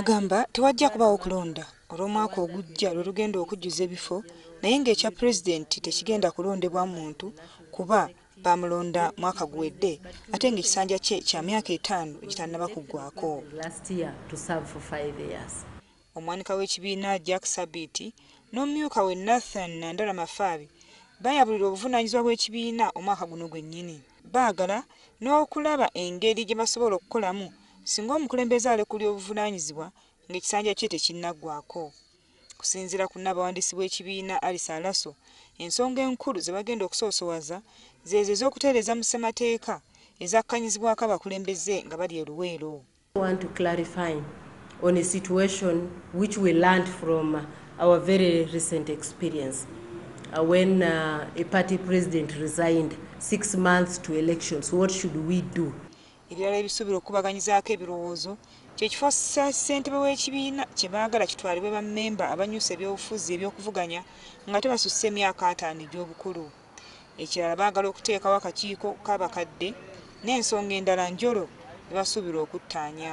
Agamba tewajja kubaawo kulonda olw'omwaka ogujja lwe lugenda okujjuza ebifo naye ng'ekya Pulezidenti tekigenda kulondebwa muntu kuba baamulonda mwaka guwedde ate ng'ekisanja kye kya myaka etaano egitannaba kuggwaako. Omwanika w'ekibiina Jack Sabiiti n'omumyuka we Nathan Nandala Mafaabi bayabulira obuvunaanyizibwa bw'ekibiina omwaka guno gwennyini. Baagala n'okulaba engeri gye basobola okukolamu singa omukulembeze alekulira obuvunaanyizibwa ng'ekisanja kye tekinnaggwaako. Okusinziira ku nnaabawandiisi w'ekibiina Alice Alaso, ensonga enkulu ze bagenda okusoosowaza zeezo ez'okutereeza mu ssemateeka ezakkanyizibwako abakulembeze nga bali e Luweero. want to clarify on a situation which we learned from our very recent experience uh, when uh, a party president resigned six months to elections what should we do ebirala ebisuubira okukubaganyizaako ebirowoozo kyekifo ssentebe w'ekibiina kye baagala kitwalibwe bammemba abanyusa ebyobufuzi ebyokuvuganya nga tebasusse emyaka ataano egy'obukulu Ekirala baagala okuteekawo akakiiko k'abakadde n'ensonga endala njolo ze basuubirwa okuttaanya.